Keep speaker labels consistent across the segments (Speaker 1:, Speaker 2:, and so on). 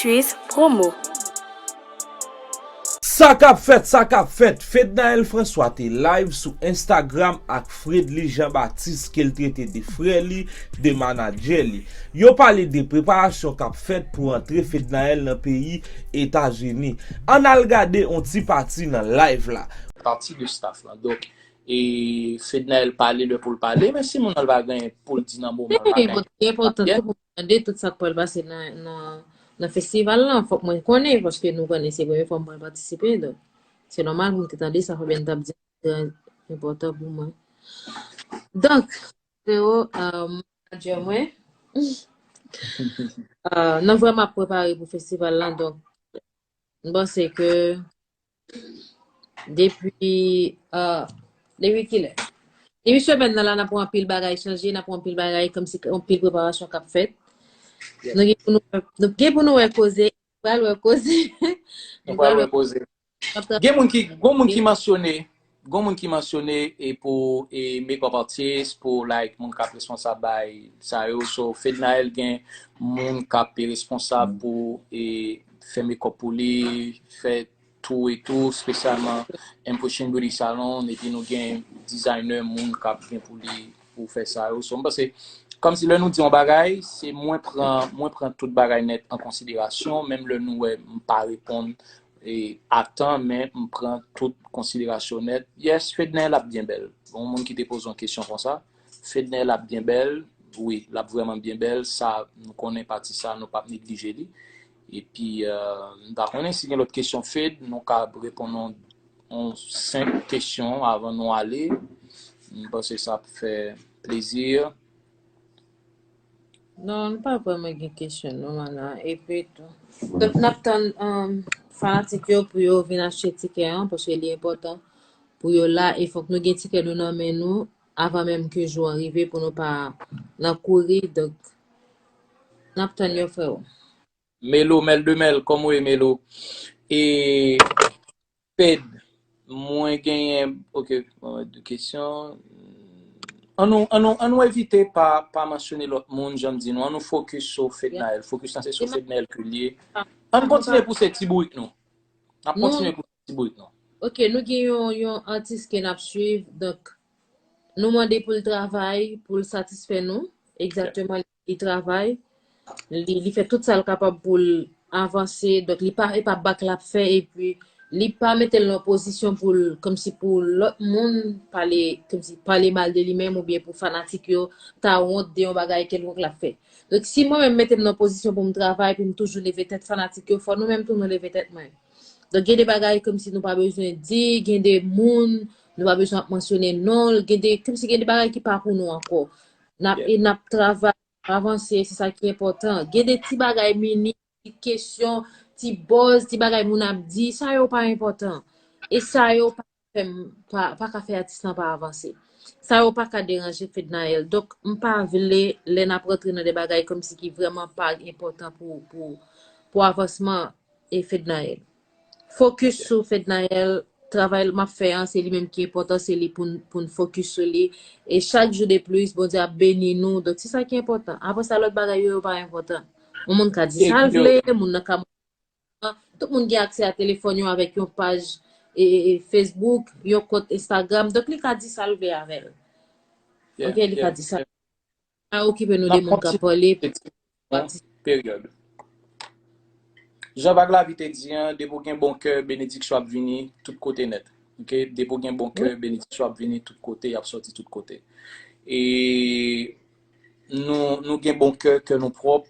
Speaker 1: Tchuiss promo.
Speaker 2: Sa kap fèt sa kap fèt Fednaelle François te live sou Instagram ak Fredly Jean Baptiste ke l trete de frè li, de manadjè li. Yo pale de preparasyon kap fèt pou antre Fednaelle nan peyi Etazini. Ann al gade on ti pati nan live la. Pati de staff
Speaker 3: lan. Donk E Fednaelle pale lè poul pale men si moun an pa gen poul di nan moman an pa gen. Li enpòtan tou pou
Speaker 4: tande tout sak pral pase nan festival lan fòk mwen konnen paske nou konnen se premye fwa mwen pral patisipe donk se nòmal pou mwen te tande sa Fabienne tap di trè enpòtan pou mwen. Donk freo manager mwen nan vrèman ap prepare pou festival lan donk mpanse ke Depi Depi kilè? Depi semèn nan la nap wè anpil bagay chanje, nap wè anpil bagay kòmsi anpil preparasyon kap fèt. Nou gen pou nou wè, nou gen pou nou wè koze, nou pral wè koze. Nou pral wè
Speaker 3: koze. Gen moun ki, gon moun ki mansyone, Gon moun ki mansyone e pou e makeup artist pou like moun kap responsab bay sa yo so fednaelle gen moun kap e responsab pou e fè makeup pou li fè tou e tou spesyalman mpushing beauty salon epi nou gen designer moun kap gen pou li pou fè sa yo so mpanse kòmsi lè nou di yon bagay se mwen pran mwen pran tout bagay nèt an konsiderasyon menm lè nou wè mpa reponn Atan men m pran tout konsiderasyon nèt yes Fednaelle lap byen bèl yon moun ki te poze yon kesyon konsa Fednaelle ap byen bèl wi lap vrèman byen bèl sa nou konnen pati sa nou pap neglije li epi m pa konnen si gen lòt kesyon Fed nou ka reponn yon senp kesyon avan nou ale m panse sa ap fè plezi.
Speaker 4: Non nou pa vreman gen kesyon non ana epi tou. Donk nap tann um, fanatik yo pou yo vin achte tikè an paske li enpòtan pou yo la e fòk nou gen tikè nou nan men nou avan menm ke jou an rive pou nou pa nan kouri donk nap tann yo freo. Melo mèl
Speaker 3: de mèl kòman ou ye melo e Ped. Mwen genyen ok mwen wè 2 kesyon. An nou an nou an nou evite pa pa mansyone lòt moun jan m di nou an nou fokis sou Fednaelle fokis lan se sou Fednaelle ke l ye an nou kontinye pouse ti bourik nou n ap kontinye pouse ti bourik nou. Ok nou gen yon
Speaker 4: yon atis ke n ap swiv donk nou mande pou l travay pou l satisfè nou egzakteman li li travay, li li fè tout sa l kapab pou l avanse, donk li pa e pa bak l ap fè epi li pa mete l nan pozisyon pou l kòmsi pou lòt moun pale kòmsi pale mal de li menm oubyen pou fanatik yo ta wont de yon bagay kèlkonk l ap fè. Donk si mwen menm m mete m nan pozisyon pou m travay pou m toujou leve tèt fanatik yo fò nou menm tou nou leve tèt mwen. Donk gen de bagay kòmsi nou pa bezwen di, gen de moun nou pa bezwen ap mansyone non l, gen de kòmsi gen de bagay ki pa pou nou ankò. Nap e nap travay, nap avanse, se sa ki enpòtan. Gen de ti bagay minim, ti kesyon, ti buzz, ti bagay moun ap di, sa yo pa enpòtan. E sa yo pa ka fè m, pa ka fè atis lan pa avanse. Sa yo pa ka deranje Fednaelle. Donk, m pa vle lè nap rantre nan de bagay kòmsi ki vrèman pa enpòtan pou avansman e Fednaelle. Focus sou Fednaelle, travay map fè an se li menm ki enpòtan se li poun focus sou li e chak jou de plus Bondye ap beni nou donk se sa ki enpòtan aprè sa lòt bagay yo yo pa enpòtan yon moun ka di sal vle moun nan ka tout moun gen aksè a telefòn yo avèk yon paj Facebook yon kont Instagram donk li ka di sal vle avèl ok li ka di sal. Pa okipe nou de moun k ap pale.
Speaker 3: Period. Jan Vag Lavi te di an, depi w gen bon kè, benediksyon ap vini tout kote nèt. Ok, depi w gen bon kè, benediksyon ap vini tout kote, y ap sòti tout kote. E nou gen bon kè, kè nou pwòp,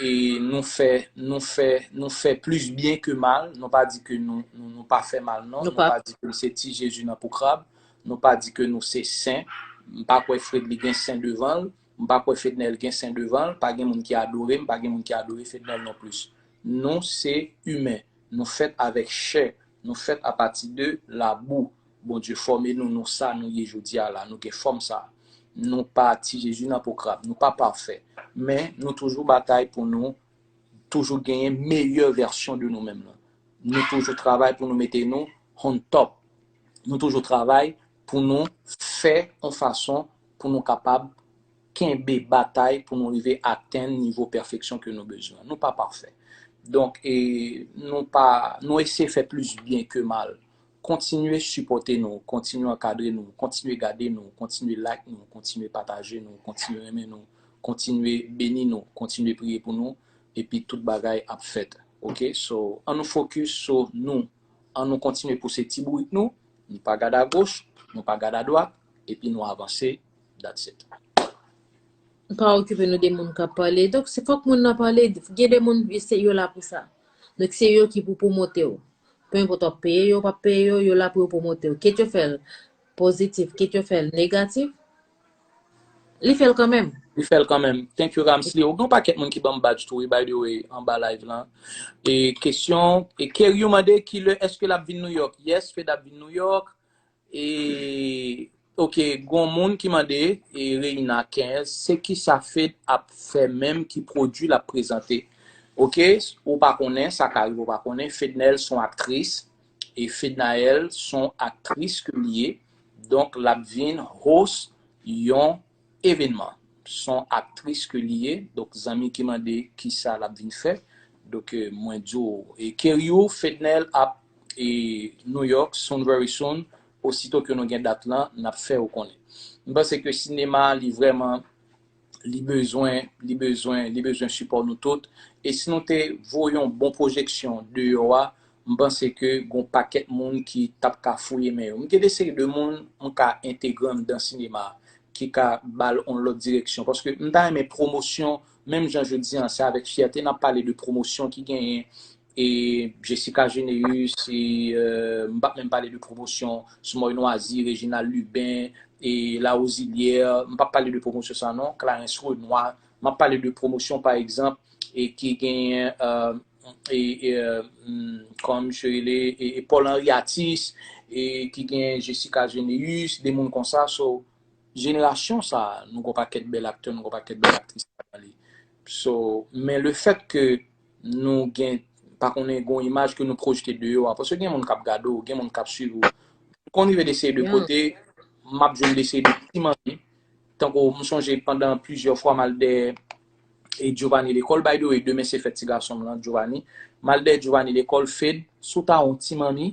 Speaker 3: e nou fè nou fè nou fè plis byen ke mal nou pa di ke nou nou pa fè mal non nou pa di ke nou se ti jezi nan po krab nou pa di ke nou se sen m pa kwè fredly gen sen devan l m pa kwè fednel gen sen devan l pa gen moun ki adore m pa gen moun ki adore fednel non plis nou se imen nou fèt avèk chè nou fèt apati de labou. Bondye fòme nou nou sa nou ye jodia la nou gen fòm sa nou pa ti jezi nan po krab nou pa pafè men nou toujou batay pou nou toujou genyen meyè vèsyon de nou menm nan nou toujou travay pou nou mete nou on top nou toujou travay pou nou fè on fason pou nou kapab kenbe batay pou nou rive atenn nivo pèfeksyon ke nou bezwen nou pa pafè donk e nou pa nou eseye fè plis byen ke mal. Kontinye sipòte nou, kontinye ankadre nou, kontinye gade nou, kontinye like nou, kontinye pataje nou, kontinye renmen nou, kontinye beni nou, kontinye priye pou nou epi tout bagay ap fèt ok so an nou fokis so nou an nou kontinye pouse ti bourik nou nou pa gad agoch nou pa gad adwat epi nou avanse that's it.
Speaker 4: Pa okipe nou de moun kap pale donk se fòk moun nan pale gen de moun yo la pou sa donk se yo ki pou pwomotew. Peu enpòt wap peye yo ou pap peye yo, yo la pou yo pwomote w. Kit yo fè l pozitif, kit yo fè l negatif, li fè l kanmenm. Li fè l kanmenm.
Speaker 3: Thank you Ramsly. Ou gen yon pakèt moun ki ban m badge tou wi by the way anba live lan. E kesyon, e Keryu mande kilè èske lap vin New York? Yes, Fed ap vin New York. E ok gon moun ki mande e Reina 15 se kisa Fed ap fè menm ki prodwi lap prezante ok ou pa konnen sa ka rive ou pa konnen Fednaelle son aktris e Fednaelle son aktris ke li ye donk lap vin host yon Evenman. Son aktris ke li ye, donk zanmi ki mande kisa lap vin fè, donk mwen di w Kerryo, Fednel ap e New York soon very soon, osito ke nou gen dat lan nap fè ou konnen. M panse ke sinema li vrèman li bezwen li bezwen li bezwen sipò nou tout e si nou te voye yon bon pwojeksyon deyò a M panse ke gon pakèt moun ki tap ka fouye men yo. M gen de seri de moun m ka entegre anndan sinema a, ki ka ba l on lòt direksyon. Paske m ta renmen pwomosyon, menm jan jodi an, se avèk fyète n ap pale de pwomosyon ki genyen, e Gessica Généus, e m pap menm pale de pwomosyon Smòy Nwazi, Reginald Lubin, e Larosilière, m pap pale de pwomosyon sa non, Clarens Renois, M ap pale de pwomosyon pa egzanp e ki genyen e e kòman misye rele e Paul Henri Atis e ki genyen Gessica Généus de moun konsa so jenerasyon sa nou gon pakèt bèl aktè nou gon pakèt bèl aktris ladan li so men le fèt ke nou gen pa konnen gon imaj ke nou pwojte de yo a paske gen moun k ap gade w gen moun k ap swiv ou m konn rive de seri de kote m ap jwenn de seri de ti manmi Tankou m sonje pandan plizyè fwa m al dèyè Giovanni lekòl, by the way demen se fèt ti gason m lan Giovanni, m al dèyè Giovanni lekòl, Fed, si w ta wè yon ti manmi,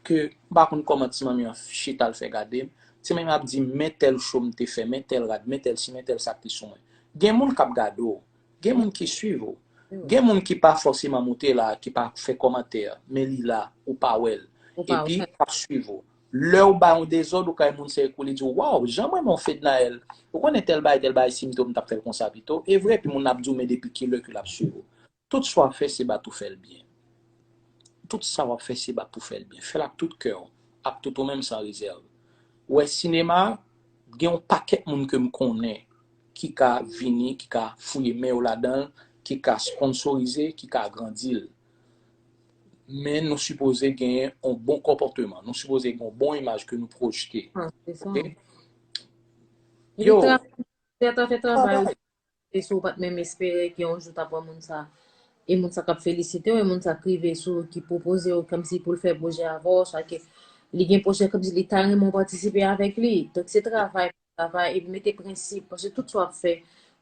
Speaker 3: ke m pa konn kòman ti manmi an chita l fè gade m, ti manmi an ap di m men tèl cho m te fè, men tèl rad, men tèl si, men tèl sa k te sou mwen. Gen moun k ap gade w, gen moun ki swiv ou, gen moun ki pa fòseman moute la, ki pa fè kòmantè, men li la, ou pa wè l, epi k ap swiv ou. Lèw bay yon dezòd ou kay moun sèy kou li diw waw janm renmenw Fednaelle ou konnen tèl bagay tèl bagay sim te ou m tap fèl konsa pito evre epi moun nan ap diw men depi kilè ke lap swiv ou tout sa wap fè se bat ou fèl byen tout sa wap fè se bat pou fèl byen fèl ak tout kèw ak tout ou menm san rezèv ou wè sinema gen yon pakèt moun kem konnen ki ka vini ki ka fouye men yo ladanl ki ka sponsorize ki ka agrandil. Men nou sipoze gen yon bon konpòteman. Nou sipoze gen yon bon imaj ke nou pwojte. Ah, se sa. Ok? Li
Speaker 4: Yo, tra- Tè ta fè travay ou travay. e si ou pat menm espere ke yon jou tap wè moun sa e moun sa kap felisite ou e moun sa k rive sou ou ki pwopoze ou kòmsi pou l fè pwojè avè ou swa ke li gen pwojè kòmsi li ta renmen ou patisipe avèk li donk se travay travay epi mete prensip paske tout sa wap fè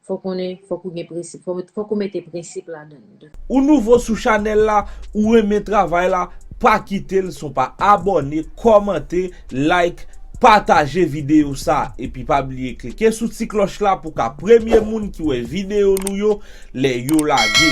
Speaker 4: fò konnen fòk ou gen prensip fòk ou mete prensip ladann. Ou nouvo sou
Speaker 2: chanèl la ou renmen travay la pa kitel son pa abòne kòmante like pataje video sa epi pa bliye klike sou ti klòch la pou ka premye moun ki wè video nou yo lè yo lage.